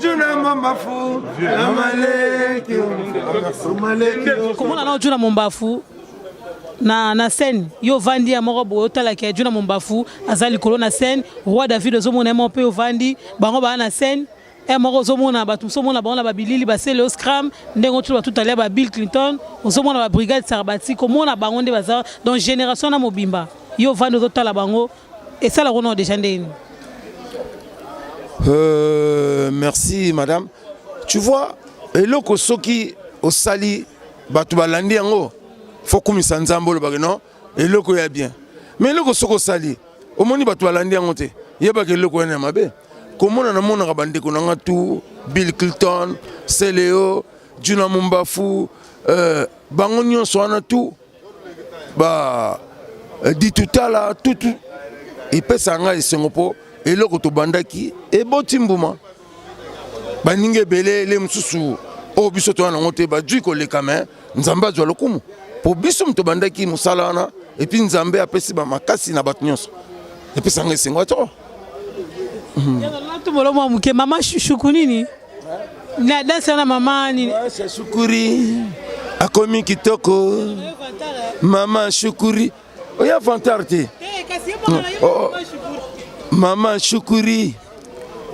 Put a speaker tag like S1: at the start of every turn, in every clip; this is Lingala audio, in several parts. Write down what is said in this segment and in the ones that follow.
S1: Juna Mombafu na Maleki Maleki
S2: komona na Juna Mombafu na na scène yo ovandi ya moko boye otalaki ya Juna Mombafu aza likolo na scène roi David ozomona ye moko mpe ovandi bango baa na scène ya moko ozomona bato mosusu omona bango na babilili basele o scram ndenge otutu bato talia ba Bill Clinton ozomona ba brigade sarbati komona bango nde baza donc génération na mobimba yo ovandi ozotala bango esala kuna o deja ndenge nini euh,
S1: merci madame tu vois eloko soki osali bato balandi yango fo kumisa nzambe olobaka non eloko ya bien mais eloko soki osali omoni bato balandi yango te yebaka eloko wana ya mabe komona namonaka bandeko na nga tu bill clinton celeo juna mumbafu euh, bango nyonso wana tu ba eh, ditutala tutu epesaka ngai esengo mpo eloko tobandaki eboti mbuma baninga ebele ele mosusu oyo biso toya nango te bajui koleka me nzambe azwa lokumu mpo biso moto tobandaki mosala wana epuis nzambe apesi bamakasi na bato nyonso epesanga esengo atoko
S2: mama shushuku nini Na danse na mama nini? Asha Shukuri
S1: akomi kitoko. Mama Shukuri. Oya vantar te. Eh, kasi yo mama oh, oh. Mama Shukuri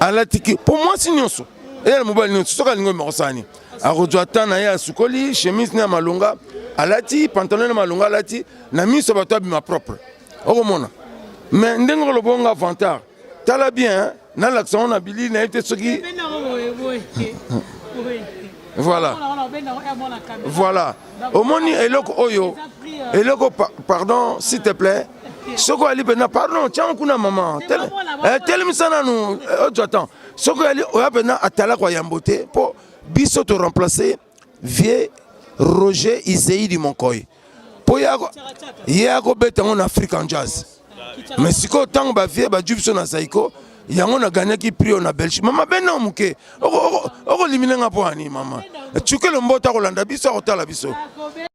S1: alati ki po mwasi nyonso. Eya na mobali nyonso soki alingi omekosani. Akozwa ata na ye asukoli chemise na malonga alati pantalon na malonga alati na miso bato abima propre. Okomona. Mais ndenge olobo nga vantar. tala bien nalakisa ngo na bilili na ye te soki voilà voilà omoni eloko oyo euh, eloko pardon s'il te plaît soki oyali mpenza pardon tiango kuna mama eh, telemisa nanu ojwa eh, temps soki oyali oya mpenza atalaka yambo te mpo biso toremplace Vieux Roger Izei du Monkoy. Po yako ye ako beta ngo na African Jazz. Mais siko tango ba vieux ba jubso na Zaiko yango na gagnaki prix na Belgique. Mama beno muke. Oko oko oko liminenga po ani mama. Chukelo mbota kolanda biso akotala biso.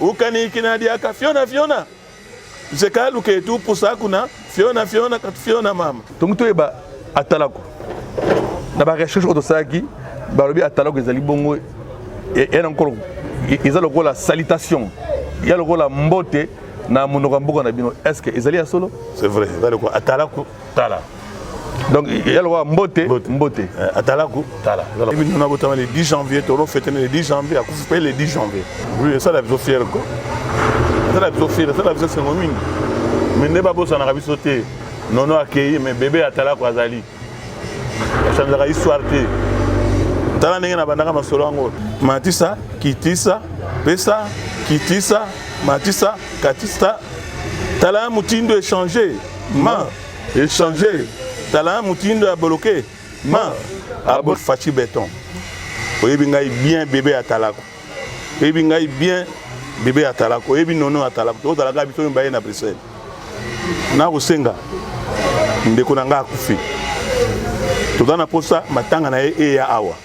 S3: ukanikina diaka fiona fiona zekaluka etu pusa kuna fiona fiona kati fiona mama tongi toyeba
S4: atalako na barecherche oyo tosalaki balobi atalako ezali bongo e, e, nkolo e, eza lokola salitation ya lokola mbote na monoko ya mboka na bino estce ezali ya solo c'est vrai eza lokola
S3: atalako tala donc
S4: ya lokola mbote mbote eh, atalaku
S3: tala ebino na botama le 10 janvier toro fete le 10 janvier akufi mpe le 10 janvier oui esala biso fiere ko esala biso fiere esala biso esengo mingi mais nde babosanaka biso te nono akeyi mais bebe atalaku azali achanzaka histoire te tala ndenge nabandaka masolo yango matisa kitisa pesa kitisa matisa katisa tala motindo echange Ma echanger tala mutindo ya boloke ma abo fachi beton oyebi ngai bien bebe ya talako oyebi ngai bien bebe ya talako oyebi nono ya talako tozalaka biso mibale na bruxelles nakosenga ndeko na ngai akufi toza na mposa matanga na ye eya awa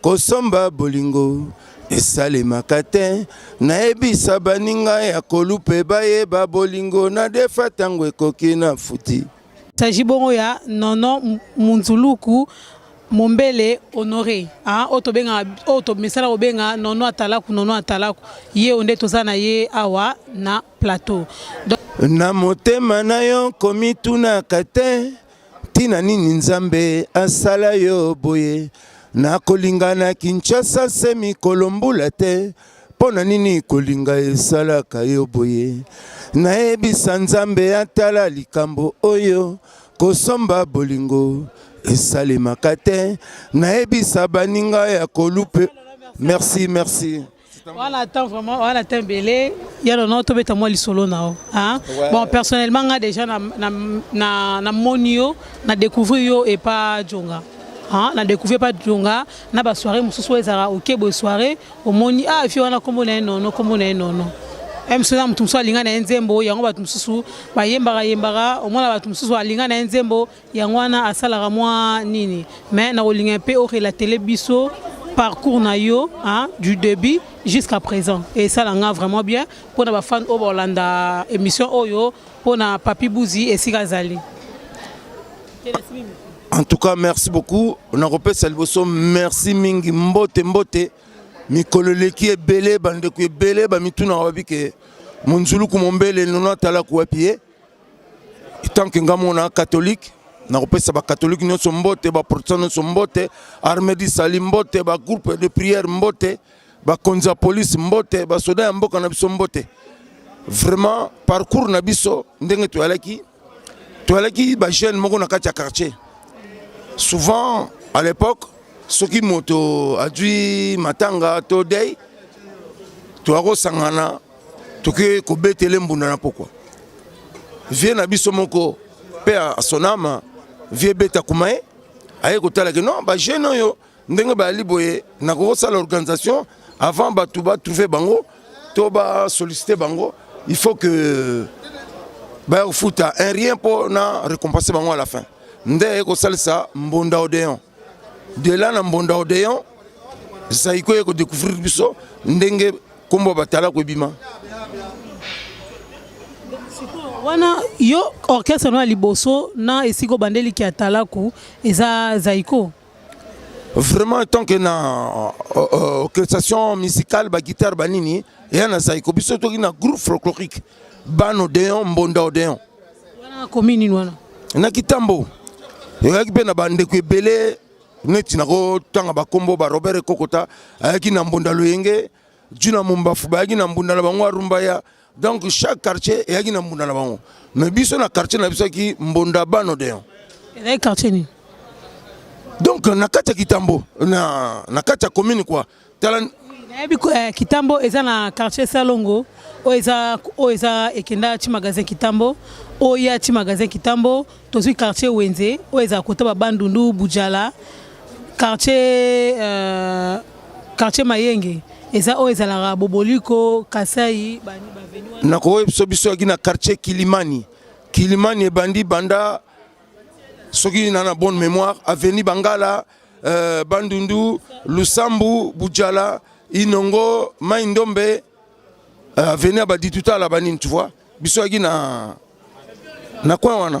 S1: Kosomba bolingo esalemaka te nayebisa baninga ya kolupe bayeba bolingo na defa ntango ekoki na futi saji bongo
S2: ya nono munzuluku mombele honore ah, oyo tobengaka oyo tomesana kobenga nono atalaku nono atalaku ye oyo nde toza na ye awa na plateau Donc... na
S1: motema na yo komitunaka te Tina nini Nzambe asala yo boye na kolinga na Kinshasa se mikolo mbula te mpo na nini kolinga esalaka yo boye nayebisa Nzambe atala likambo oyo kosomba bolingo esalemaka te nayebisa baninga ya kolupe merci merci
S2: wana ata vraiment wana ata ebele ya nono tobeta mwa lisolo na yo hein? ouais. bon personnellement nga déjà na, na, na, na moni yo na découvrir yo epa jonga Hein, na découvrir pas jonga na ba soirée mosusu ezalaka oke boye soirée omoni ah efi wana nkombo na ye nono nkombo na ye nono mso na moto mosusu alinga na ye nzembo yango bato mosusu bayembaka yembaka omona bato mosusu alinga na ye nzembo yango wana asalaka mwa nini mais nakolinga mpe orelatele biso parcours na yo hein, du début jusqu'à présent et ça nga vraiment bien pour na bafan oyo baolanda émission oyo pour na papi buzi esika azali
S1: en tout cas merci beaucoup nakopesa liboso merci mingi mbote mbote mikolo eleki ebele bandeko ebele bamitunaka babi ke monzuluku mombele nono atalaku wapi ye tant que nga mona catholique nakopesa bakatholike nyonso mbote baprotestant nyonso mbote armée disali mbote bagroupe de prière mbote bakonzi ya polise mbote basoda ya mboka na biso mbote vraiment parcours na biso ndenge toyalaki toyalaki bajeune moko na kati ya quartier souvent à l'époque soki moto azwi matanga to dei toyakosangana toke kobetele mbunda na pokwa vie na biso moko mpe asonama vie beta kuma ye aye kotala ke non bajeune oyo ndenge bayali boye nakoki kosala organisation avant bato batrouve bango to basollicite bango il faut que baya kofuta un rien mpo na récompense bango à la fin nde aye kosalisa mbonda odeon dela na mbonda odeon zaiko ye kodécouvrir biso ndenge Kombo ya batalaku ebima.
S2: Wana yo orchestre na liboso na esiko bandeli ki atalaku eza Zaiko.
S1: Vraiment tant que na euh, euh, orchestration musicale ba guitare ba nini ya na Zaiko biso toki na groupe folklorique Bano Deon Mbonda Odeon. Wana
S2: commune wana. Na Kitambo.
S1: Yoyaki pe na bandeko ebele neti nakotanga bakombo ba robert ekokota ayaki na mbonda loyenge juna mombafu bayaki na mbunda na bango arumba ya donc chaque quartier eyaki na mbunda na bango mais biso na quartier na biso yaki mbonda bano deon ezali quartier
S2: nini
S1: donc na kati ya kitambo na, na kati ya commune kua tala nayebi eh,
S2: kitambo eza na quartier salongo oyo eza oyo eza ekenda ti magasin kitambo oyo ya ti magasin kitambo tozwi quartier wenze oyo ezala kota babandundu bujala quartier euh, quartier mayenge eza oyo ezalaka boboliko kasai nakoyebisa biso yaki
S1: na quartier kilimani kilimani ebandi banda soki na na bonne mémoire avenue bangala euh, Bandundu, Lusambu, Bujala, Inongo, Maindombe, euh, avenue ya Badituta la banini, tu vois. Biso yaki na na coin wana.